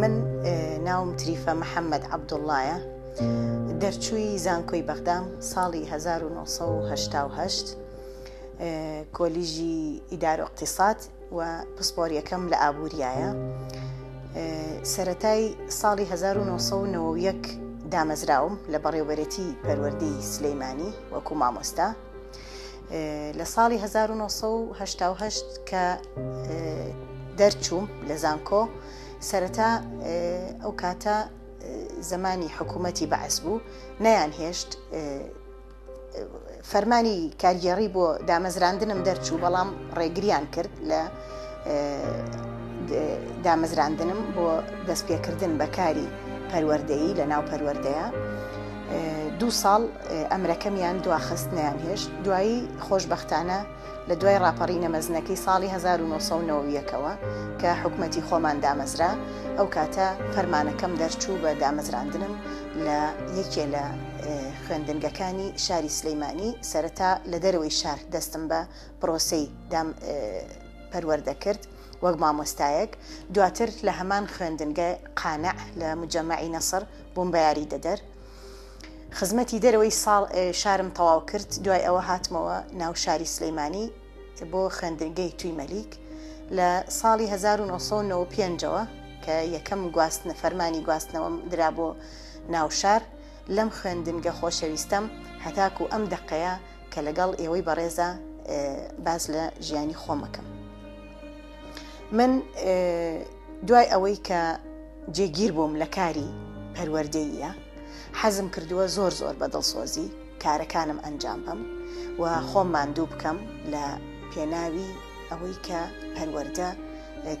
من ناوم تریفە محەممەد عەبدوڵایە دەرچووی زانکۆی بەغدام ساڵی 1970 کۆلیژی ئیدار و اقتصاد و پسپۆریەکەم لە ئابووریایە سەتای ساڵی 1990 دامەزراوم لە بەڕێوبەرێتی پەروەردەی سلەیمانی وەکو مامۆستا. لە ساڵی 1970 کە دەرچووم لە زانکۆ سەرەتا ئەو کاتە زمانی حکوومەتی بەعس بوو نەیان هێشت فەرمانی کارگێڕی بۆ دامەزراندنم دەرچوو بەڵام ڕێگریان کرد لە دامەزراندنم بۆ دەستپێکردن بە کاری پەروەردەیی لە ناو پەروەردەیە دوو ساڵ ئەمرەکەمیان دواخست نیان هێشت دوایی خۆشببختانە لە دوای راپەڕینە مەزنەکەی ساڵی 1990ەوە کە حکوومەتتی خۆمان دامەزرا ئەو کاتە فەرمانەکەم دەرچوو بە دامەزراندنم لە یەکێ لە خوێندنگەکانی شاری سلەیمانی سەرەتا لە دەرەوەی شار دەستم بە پرۆسەی دام پەروەردە کرد وەک مامۆستایەک دواتر لە هەمان خوێندنگە قانع لە مجەمەعی نەسر بووم بە یاری دەدەر خزمەتی دەرەوەی ساڵ شارم تەواو کرد دوای ئەوە هاتمەوە ناو شاری سلەیمانی بۆ خوێندنگەی توی مەلیک لە ساڵی 1995ەوە کە یەکەم گواستنە فەرمانی گواستنەوەم درا بۆ ناوشار لەم خوێندنگە خۆشەویستەم هەتاکو ئەم دەقەیە کە لەگەڵ ئێوەی بەڕێزا باز لە ژیانی خۆمەکەم من دوای ئەوەی کە جێگیر بووم لە کاری پەروەردەیە حەزم کردووە زۆر زۆر بە دڵسۆزی کارەکانم ئەنجام بم و خۆم ماندوو بکەم لە پێناوی ئەوەی کە پەروەەردە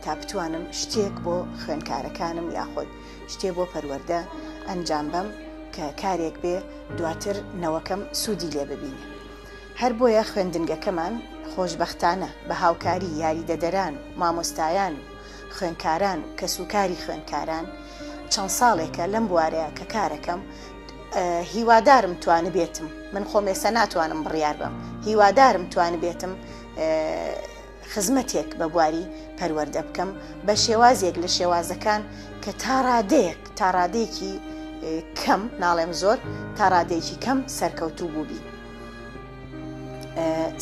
تا بتوانم شتێک بۆ خوێنکارەکانم یاخود شتێ بۆ پەروەردە ئەنجام بەم کە کارێک بێ دواتر نەوەکەم سوودی لێ ببینێ. هەر بۆیە خوێندنگەکەمان خۆشبەختانە بە هاوکاری یاریدەدەران و مامۆستایان و خوێنکاران و کەسوکاری خوێنکاران چەند ساڵێکە لەم بوارەیە کە کارەکەم هیوادارم توانبێتم من خۆمێسە ناتوانم بڕیار بەم هیوادارم توانبێتم خزمەتێک بە بواری پەروەردە بکەم بە شێوازێک لە شێوازەکان کە تا ڕادەیەک تا ڕادێکی کەم ناڵێم زۆر تا ڕادێکی کەم سەرکەوتوو بووبی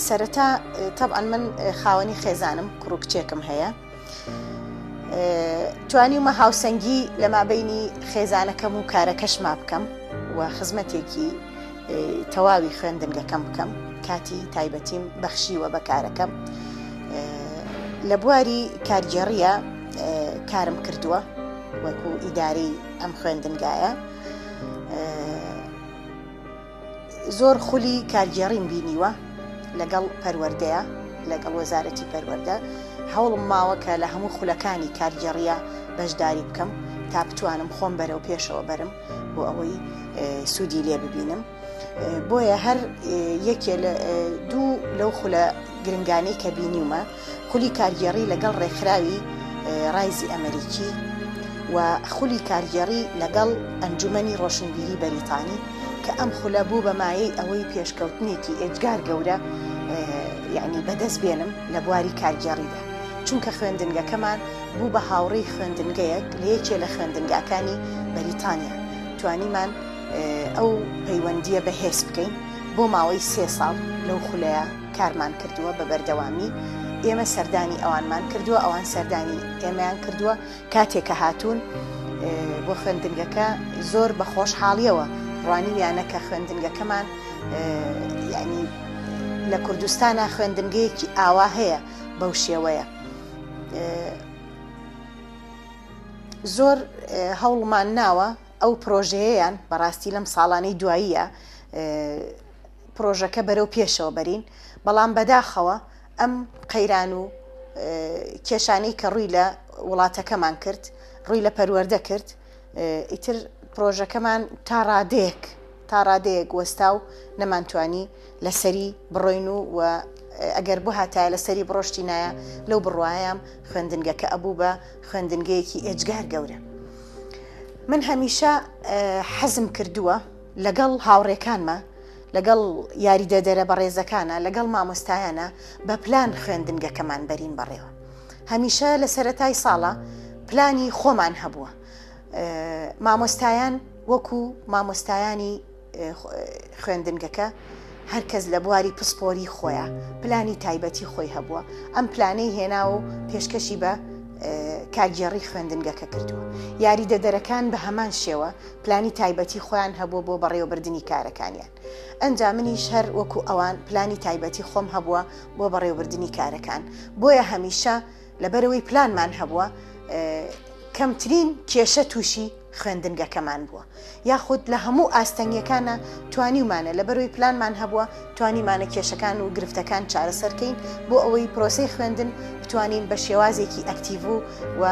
سەرەتا تەبعەن من خاوەنی خێزانم کوڕکچێکم هەیە توانیمە هاوسەنگی لە مابینی خێزانەکەم و کارەکەشما بکەم و خزمەتێکی تەواوی خوێندنگەکەم بکەم کاتی تایبەتیم بەخشیوە بە کارەکەم لە بواری کارگێڕیە کارم کردووە وەکو ئیداری ئەم خوێندنگایە زۆر خولی کارگێڕیم بینیوە لەگەڵ پەروەردەیە لەگەڵ وەزارەتی پەروەەردە هەوڵم ماوە کە لە هەموو خولەکانی کارگێڕیە بەشداری بکەم تا بتوانم خۆم بەرەو پێشەوە بەرم بۆ ئەوەی سوودی لێ ببینم بۆیە هەر یەکێ لە دوو لەو خولە گرنگانی کە بینیومە خولی کارگێڕی لەگەڵ ڕێکخراوی ڕایزی ئەمریکی و خولی کارگێڕی لەگەڵ ئەنجومنی ڕۆشنبیری بەریتانی کە ئەم خولە بوو بەمایەی ئەوەی پێشکەوتنێکی ئێجگار گەورە یعنی بەدەست بێنم لە بواری کارگێڕیدا چونکە خوێندنگەکەمان بوو بە هاوڕێی خوێندنگەیەک لە یەکێ لە خوێندنگاکانی بەریتانیا، توانیمان ئەو پەیوەندییە بەهێز بکەین، بۆ ماوەی سێ ساڵ لەو خولەیە کارمان کردووە بە بەردەوامی، ئێمە سەردانی ئەوانمان کردووە، ئەوان سەردانی ئێمەیان کردووە، کاتێ کە هاتوون بۆ خوێندنگەکە زۆر بە خۆشحاڵییەوە ڕوانیویانە کە خوێندنگەکەمان یانی لە کوردستانا خوێندنگەیەکی ئاوا هەیە بەو شێوەیە. زۆر هەوڵمان ناوە ئەو پرۆژەیەیان بەڕاستی لەم ساڵانەی دواییە پرۆژەکە بەرەو پێشەوە بەرین بەڵام بەداخەوە ئەم قەیران و کێشانەی کە ڕووی لە وڵاتەکەمان کرد ڕووی لە پەروەەردە کرد ئیتر پرۆژەکەمان تا ڕادەیەک تا ڕادەیەک وەستا و نەمانتوانی لەسەری بڕۆین و و ئەگەر بۆ هاتایە لەسەری بڕۆشتی نایە لەو بڕوایم خوێندنگەکە ئەبوو بە خوێندنگەیەکی ئێجگار گەورە من هەمیشە حەزم کردووە لەگەڵ هاوڕێکانمە لەگەڵ یاریدەدەرە بەڕێزەکانە لەگەڵ مامۆستایانە بە پلان خوێندنگەکەمان بەرین بەڕێوە هەمیشە لە سەرەتای ساڵە پلانی خۆمان هەبووە مامۆستایان وەکو مامۆستایانی خوێندنگەکە هەرکەس لە بواری پسپۆری خۆیە پلانی تایبەتی خۆی هەبووە ئەم پلانەی هێنا و پێشکەشی بە کارگێڕی خوێندنگەکە کردووە یاریدەدەرەکان بە هەمان شێوە پلانی تایبەتی خۆیان هەبوو بۆ بەڕێوەبردننی کارەکانیان ئەنجا منیش هەر وەکو ئەوان پلانی تایبەتی خۆم هەبووە بۆ بەڕێوبردنی کارەکان، بۆیە هەمیشە لەبەرئەوەی پلانمان هەبووە کەمترین کێشە تووشی خوێندنگەکەمان بووە، یاخود لە هەموو ئاستەنگیەکانا توانیومانە لەبەرئەوەی پلانمان هەبووە توانیمانە کێشەکان و گرفتەکان چارەسەر کەین بۆ ئەوەی پرۆسەی خوێندن بتوانین بە شێوازێکی ئەکتیڤ و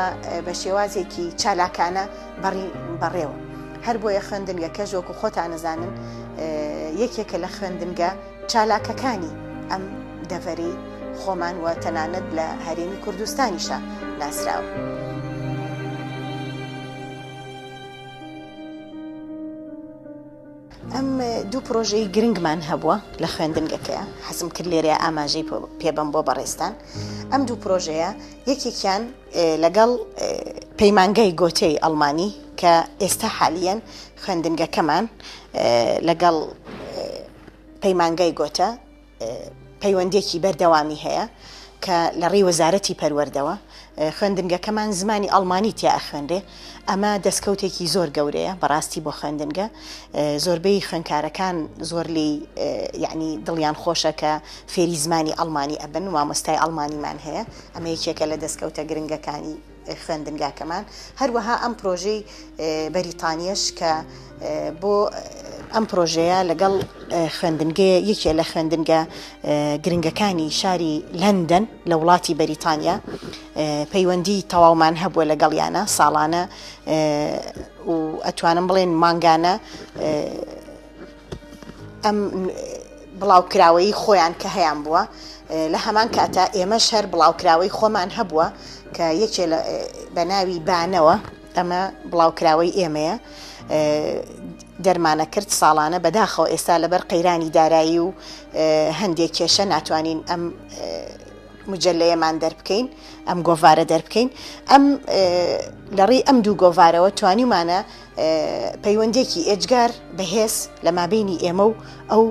بە شێوازێکی چالاکانە بەڕی بەڕێوە هەر بۆیە خوێندنگە کەژ وەکو خۆتان نەزانن یەکێکە لە خوێندنگە چالاکەکانی ئەم دەڤەری خۆمان وە تەنانەت لە هەرێمی کوردستانیشە ناسراوە. ئەم دوو پرۆژەی گرنگمان هەبووە لە خوێندنگەکەیە حەزم کرد لێرە ئاماژەی پێبم بۆ بەڕێستان ئەم دوو پرۆژەیە یەکێکیان لەگەڵ پەیمانگای گۆتێی ئەڵمانی کە ئێستا حالیەن خوێندنگەکەمان لەگەڵ پەیمانگای گۆتە پەیوەندێکی بەردەوامی هەیە کە لە ڕێی وەزارەتی پەروەردەوە خوێندنگەکەمان زمانی ئەڵمانی تیا ئەخوێنرێ ئەمە دەستکەوتێکی زۆر گەورەیە بەڕاستی بۆ خوێندنگە زۆربەی خوێنکارەکان زۆر لی یعنی دڵیان خۆشەکە فێری زمانی ئەڵمانی ئەبن و مامۆستای ئەڵمانیمان هەیە ئەمە یەکێکە لە دەستکەوتە گرنگەکانی خوێندنگاکەمان، هەروەها ئەم پرۆژەی بەریتانیەش کە بۆ ئەم پرۆژەیە لەگەڵ خوێندنگەیە یەکێ لە خوێندنگە گرنگەکانی شاری لەندەن لە وڵاتی بەریتانیا پەیوەندی تەواومان هەبووە لەگەڵیانە ساڵانە و ئەتوانم بڵێن مانگانە ئەم بڵاوکراوەیی خۆیان کە هەیان بووە لە هەمان کاتا ئێمەش هەر بڵاوکراوەی خۆمان هەبووە کە یەکێ بە ناوی بانەوە ئەمە بڵاوکراوەی ئێمەیە دەرمانە کرد ساڵانە بەداخەوە ئێستا لەبەر قەیرانی دارایی و هەندێک کێشە ناتوانین ئەم مجلەیەمان دەربکەین ئەم گۆڤارە دەربکەین ئەم لەڕی ئەم دوو گۆڤارەوە توانیمانە پەیوەندیەکی ئێجگار بەهێز لە مابەینی ئێمە و ئەو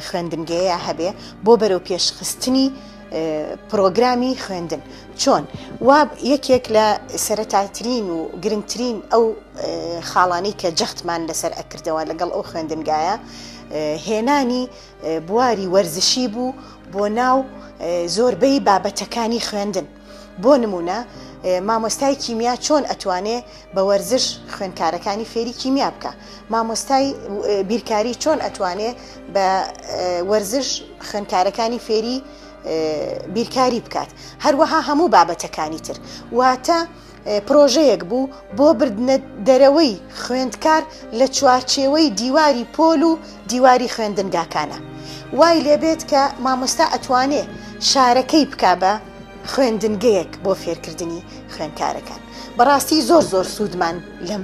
خوێندنگەیە هەبێ بۆ بەرەو پێشخستنی پرۆگرامی خوێندن چۆن وا یەکێک لە سەرەتاترین و گرنگترین ئەو خاڵانی کە جەختمان لەسەر ئەکردەوە لەگەڵ ئەو خوێندنگایە هێنانی بواری وەرزشی بوو بۆ ناو زۆربەی بابەتەکانی خوێندن. بۆ نمونە مامۆستای کیمیا چۆن ئەتوانێ بە وەرزش خوێنکارەکانی فێری کیمیا بکە مامۆستای بیرکاری چۆن ئەتوانێ بە وەرزش خوێنکارەکانی فێری بیرکاری بکات هەروەها هەموو بابەتەکانی تر واتە پرۆژەیەک بوو بۆ بردنە دەرەوەی خوێندکار لە چوارچێوەی دیواری پۆل و دیواری خوێندنگاکانە وای لێبێت کە مامۆستا ئەتوانێ شارەکەی بکا بە خوێندنگەیەک بۆ فێرکردنی خوێنکارەکان بەڕاستی زۆر زۆر سوودمان لەم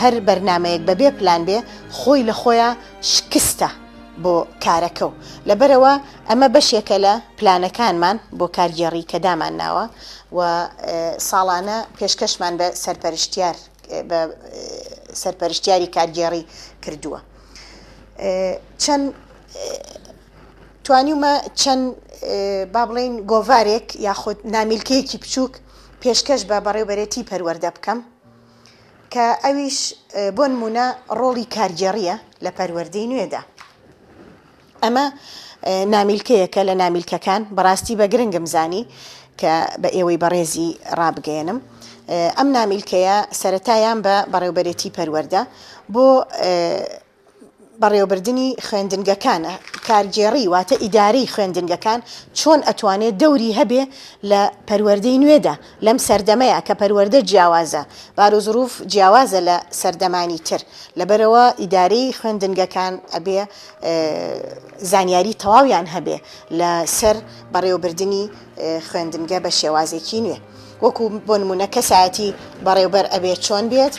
هەر بەرنامەیەک بەبێ پلان بێ خۆی لە خۆیان شکستە بۆ کارەکە و لەبەرەوە ئەمە بەشێکە لە پلانەکانمان بۆ کارگێڕی کە دامان ناوە و ساڵانە پێشکەشمان بە سەرپەرشتیار بە سەرپەرشتیاری کارگێڕی کردووە چەند توانیومە چەند با بڵێین گۆڤارێک یاخود نامیلکەیەکی بچووک پێشکەش بە بەڕێوبەرێتی پەروەردە بکەم کە ئەویش بۆ نمونە ڕۆڵی کارگێڕیە لە پەروەردەی نوێدا ئەمە نامیلکەیەکە لە نامیلکەکان بەڕاستی بە گرنگم زانی کە بە ئێوەی بەڕێزی ڕابگەێنم ئەم نامیلکەیە سەتایان بە بەڕێوبەرێتی پەروەەردە بۆ بەڕێوەبردنی خوێندنگەکان، کارگێڕی واتە ئیدارەی خوێندنگەکان چۆن ئەتوانێ دەوری هەبێ لە پەروەردەی نوێدا لەم سەردەمەیا کە پەروەردە جیاوازە بارۆزوروف جیاوازە لە سەردەمانی تر لەبەرئەوە ئیدارەی خوێندنگەکان ئەبێ زانیاری تەواویان هەبێ لە سەر بەڕێوەبردنی خوێندنگە بە شێوازێکی نوێ وەکو بۆ نمونە کەسایەتی بەڕێوبەر ئەبێ چۆن بێت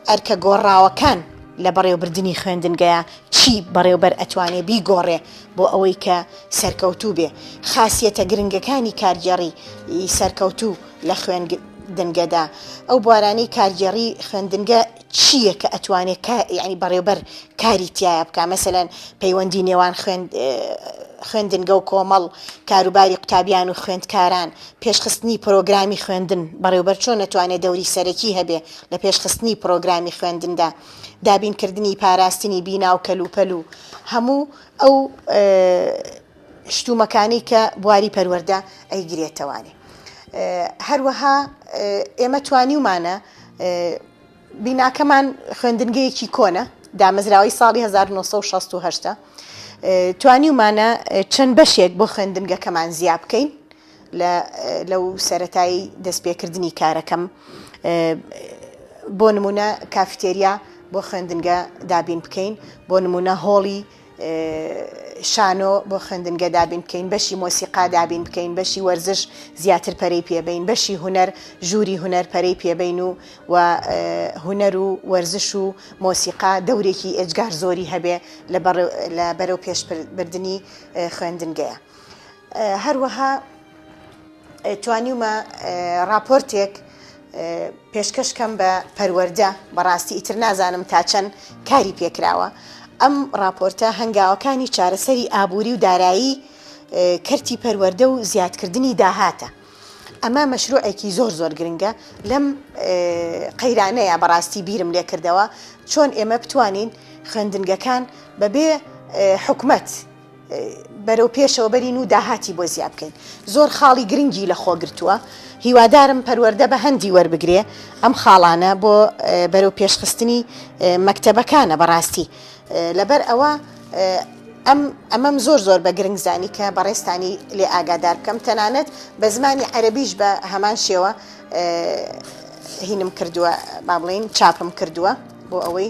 ئەرکە گۆڕاوەکان لە بەڕێوبردنی خوێندنگەیا چی بەڕێوبەر ئەتوانێ بیگۆڕێ بۆ ئەوەی کە سەرکەوتوو بێ؟ خاسیەتە گرنگەکانی کارگێڕی ی سەرکەوتوو لە خوێندنگەدا ئەو بوارانەی کارگێڕی خوێندنگە چییە کە ئەتوانێ کا یانی بەڕێوبەر کاری تیایا بکا مەسەلەن پەیوەندی نێوان خوێندنگە و کۆمەڵ، کاروباری قوتابیان و خوێندکاران، پێشخستنی پرۆگرامی خوێندن، بەڕێوبەر چۆن ئەتوانێ دەوری سەرەکی هەبێ؟ لە پێشخستنی پڕۆگرامی خوێندندا، دابینکردنی پاراستنی بینا و کەلوپەل و هەموو ئەو شتومەکانی کە بواری پەروەردە ئەیگرێتەوانی. هەروەها ئێمە توانیومانە بیناکەمان خوێندنگەیەکی کۆنە دامەزراوەی ساڵی 1960 توانیومانە چەند بەشێک بۆ خوێندنگەکەمان زیاب بکەین لەو سەرەتای دەستپێکردنی کارەکەم بۆ نمونە کافیتێریا بۆ خوێندنگە دابین بکەین بۆ نمونە هۆڵی شانۆ بۆ خوێندنگە دابین بکەین بەشی مۆسیقا دابین بکەین بەشی وەرزش زیاتر پەرەی پێبین بەشی هوەر ژووری هوەر پەرەی پێبین و و هوەر و وەرزش و مۆسیقا دەورێکی ئێجگار زۆری هەبێ لە بەرەو پێشبردننی خوێندنگەیە. هەروەها توانیومە راپۆرتێک پێشکەش کەم بە پەروەەردە بەڕاستی ئیتر نازانم تا چەند کاری پێکراوە ئەم راپۆرتە هەنگاوەکانی چارەسەری ئابووری و دارایی کەرتی پەروەەردە و زیادکردنی داهاتە ئەمە مەشروعێکی زۆر زۆر گرنگە لەم قەیرانەیە بەڕاستی بیرم لێ کردەوە چۆن ئێمە بتوانین خوێندنگەکان بەبێ حکومەت بەرەو پێشەوە بەرین و داهاتی بۆ زیا بکەین زۆر خاڵی گرنگی لە خۆ گرتووە هیوادارم پەروەردە بە هەندی وەربگرێ ئەم خاڵانە بۆ بەرەو پێشخستنی مەکتەبەکانە بەڕاستی لەبەر ئەوە ئەم ئەمەم زۆر زۆر بە گرنگ زانی کە بەڕێستانی لێ ئاگادار بکەم تەنانەت بە زمانی عەربیش بە هەمان شێوە هینم کردووە با بڵین چاپم کردووە بۆ ئەوەی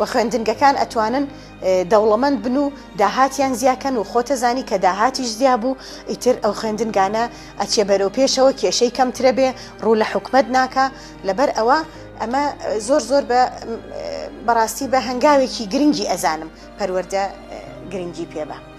و خوێندنگەکان ئەتوانن دەوڵەمەند بن و داهاتیان زیاکەن و خۆتەزانی کە داهاتیش زیا بوو ئیتر ئەو خوێندنگانە ئەچێ بەرەو پێشەوە کێشەی کەمترە بێ ڕوو لە حکومت ناکە لەبەر ئەوە ئەمە زۆر زۆر بە بەڕاستی بە هەنگاوێکی گرنگی ئەزانم پەروەەردە گرنگی پێبە.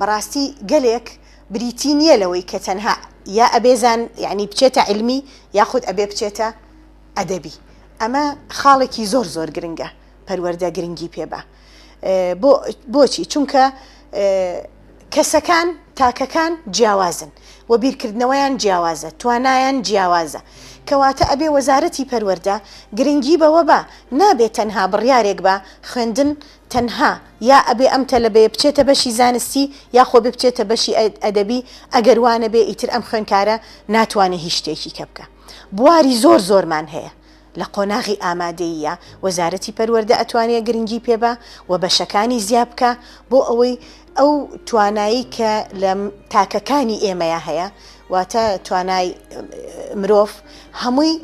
بەڕاستی گەلێک بریتی نیە لەوەی کە تەنها یا ئەبێ زان یعنی بچێتە عیلمی یاخود ئەبێ بچێتە ئەدەبی ئەمە خاڵێکی زۆر زۆر گرنگە پەروەردە گرنگی پێبا بۆ بۆچی چونکە کەسەکان تاکەکان جیاوازن و بیرکردنەوەیان جیاوازە توانایان جیاوازە کەواتە ئەبێ وەزارەتی پەروەەردە گرنگی بەوە بە نابێت تەنها بڕیارێک بە خوێندن تەنها یا ئەبێ ئەم تەلەبەیە بچێتە بەشی زانستی یا خۆ بێ بچێتە بەشی ئەدەبی ئەگەر وا نەبێ ئیتر ئەم خوێنکارە ناتوانێ هیچ شتێکی کە بکا بواری زۆر زۆرمان هەیە لە قۆناغی ئامادەییە وەزارەتی پەروەردە ئەتوانێ گرنگی پێ با و بەشەکانی زیا بکا بۆ ئەوەی ئەو توانایی کە لە تاکەکانی ئێمەیا هەیە واتە توانای مرۆڤ هەمووی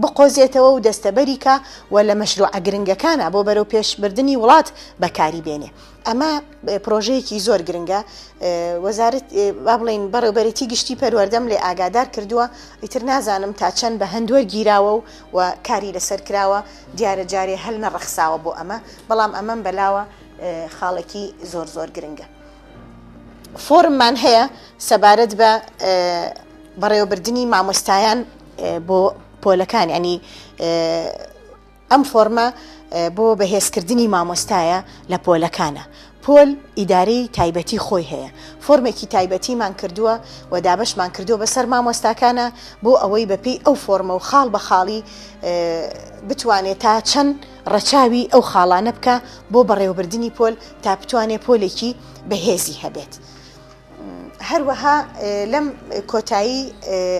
بقۆزێتەوە و دەستەبەریکە و لە مەشروعە گرنگەکانە بۆ بەرەو پێشبردننی وڵات بەکاری بێنێ ئەمە پرۆژەیەکی زۆر گرنگە وەزارت با بڵین بەڕێوبەرێتی گشتی پەروەەردەم لێ ئاگادار کردووە ئیتر نازانم تا چەند بە هەندوەر گیراوە و و کاری لەسەر کراوە دیارە جارێ هەل نەڕەخساوە بۆ ئەمە بەڵام ئەمەم بەلاوە خاڵێکی زۆر زۆر گرنگە. فۆرممان هەیە سەبارەت بە بەڕێوەبردنی مامۆستایان بۆ پۆلەکان ینی ئەم فۆرمە بۆ بەهێزکردنی مامۆستایە لە پۆلەکانە پۆل ئیداری تایبەتی خۆی هەیە فۆرمێکی تایبەتیمان کردووە و دابشمان کردو بەسەر مامۆستاکانە بۆ ئەوەی بەپی ئەو فۆرمە و خاڵ بە خاڵی بتوانێت تا چەند ڕەچاوی ئەو خاڵانە بکە بۆ بەڕێوەبردنی پۆل تا بتوانێت پۆلێکی بەهێزی هەبێت. هەروەها لەم کۆتایی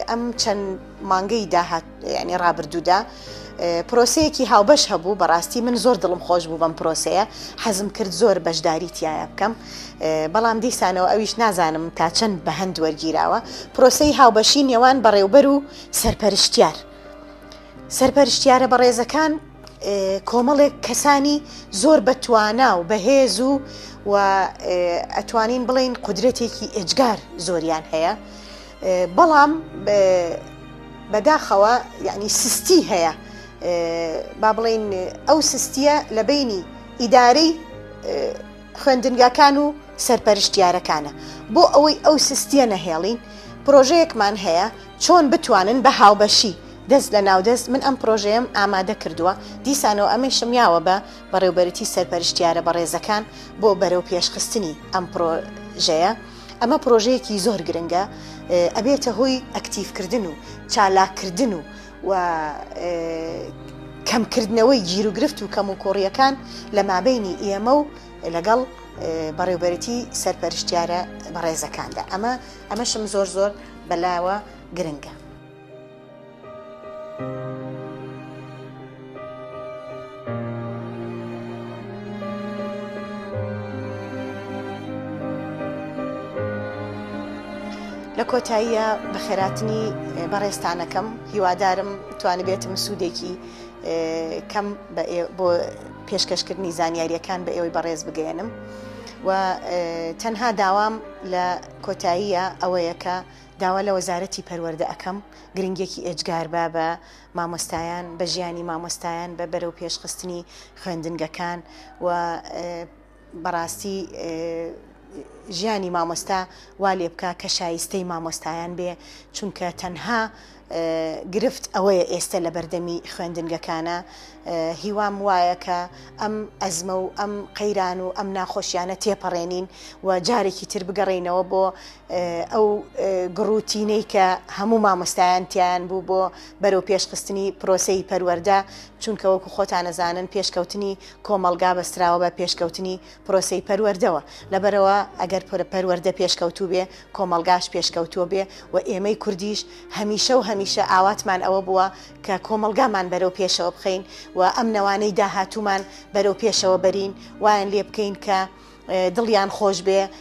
ئەم چەند مانگەی داهات ینی ڕابردوودا پرۆسەیەکی هاوبەش هەبوو بەڕاستی من زۆر دڵم خۆش بوو بەم پرۆسەیە حەزم کرد زۆر بەشداری تایە بکەم بەڵام دیسانەوە ئەویش نازانم تا چەند بە هەند وەرگیراوە پرۆسەی هاوبەشی نێوان بەڕێوبەر و سەرپەرشتیار سەرپەرشتیارە بەڕێزەکان کۆمەڵێک کەسانی زۆر بەتوانا و بەهێز و و ئەتوانین بڵین قدرەتێکی ئێجگار زۆریان هەیە بەڵام بەداخەوە یعنی سستی هەیە با بڵین ئەو سستیە لە بینی ئیدارەی خوێندنگاکان و سەرپەرشتیارەکانە بۆ ئەوەی ئەو سستیە نەهێڵین پرۆژەیەکمان هەیە چۆن بتوانن بە هاوبەشی دەست لە ناو دەست من ئەم پرۆژەیەم ئامادە کردووە دیسانەوە ئەمەیشم یاوە بە بەڕێوبەرتی سەرپەرشتیارە بەڕێزەکان بۆ بەرەو پێش خستنی ئەم پرۆژەیە ئەمە پرۆژەیەکی زۆر گرنگە ئەبێتە هۆی ئەکتیڤ کردن و چالاک کردن و و کەم کردنەوەی گیر و گرفت و کەم و کۆڕیەکان لە مابینی ئێمە و لەگەڵ بەڕێوبەرتی سەرپەرشتیارە بەڕێزەکاندا ئەمە ئەمەشم زۆر زۆر بەلاوە گرنگە. لە کۆتاییە بەخێراتنی بەڕێستانەکەم هیوادارم توانبێتم سوودێکی کەم بۆ پێشکەشکردنی زانیاریەکان بە ئێوەی بەڕێز بگەێنم و تەنها داوام لە کۆتاییە ئەوەیە کە داوا لە وەزارەتی پەروەردە ئەکەم گرنگیەکی ئێجگار با بە مامۆستایان، بە ژیانی مامۆستایان، بە بەرەو پێش خستنی خوێندنگەکان و بەڕاستی ژیانی مامۆستا وا لێ بکا کە شایستەی مامۆستایان بێ چونکە تەنها گرفت ئەوەیە ئێستە لە بەردەمی خوێندنگەکانە، هیوام وایە کە ئەم ئەزمە و ئەم قەیران و ئەم ناخۆشیانە تێپەڕێنین و جارێکی تر بگەڕێینەوە بۆ ئەو گڕوتینەی کە هەموو مامۆستایان تیایان بوو بۆ بەرەو پێشخستنی پرۆسەی پەروەردە، چونکە وەکو خۆتان ئەزانن پێشکەوتنی کۆمەڵگا بەستراوە بە پێشکەوتنی پرۆسەی پەروەردەوە، لەبەرئەوە ئەگەر پەروەردە پێشکەوتوو بێ، کۆمەڵگاش پێشکەوتووە بێ و ئێمەی کوردیش هەمیشە و هەمیشە ئاواتمان ئەوە بووە کە کۆمەڵگامان بەرەو پێشەوە بخەین و ئەم نەوانەی داهاتوومان بەرەو پێشەوە بەرین، وایان لێ بکەین کە دڵیان خۆش بێ،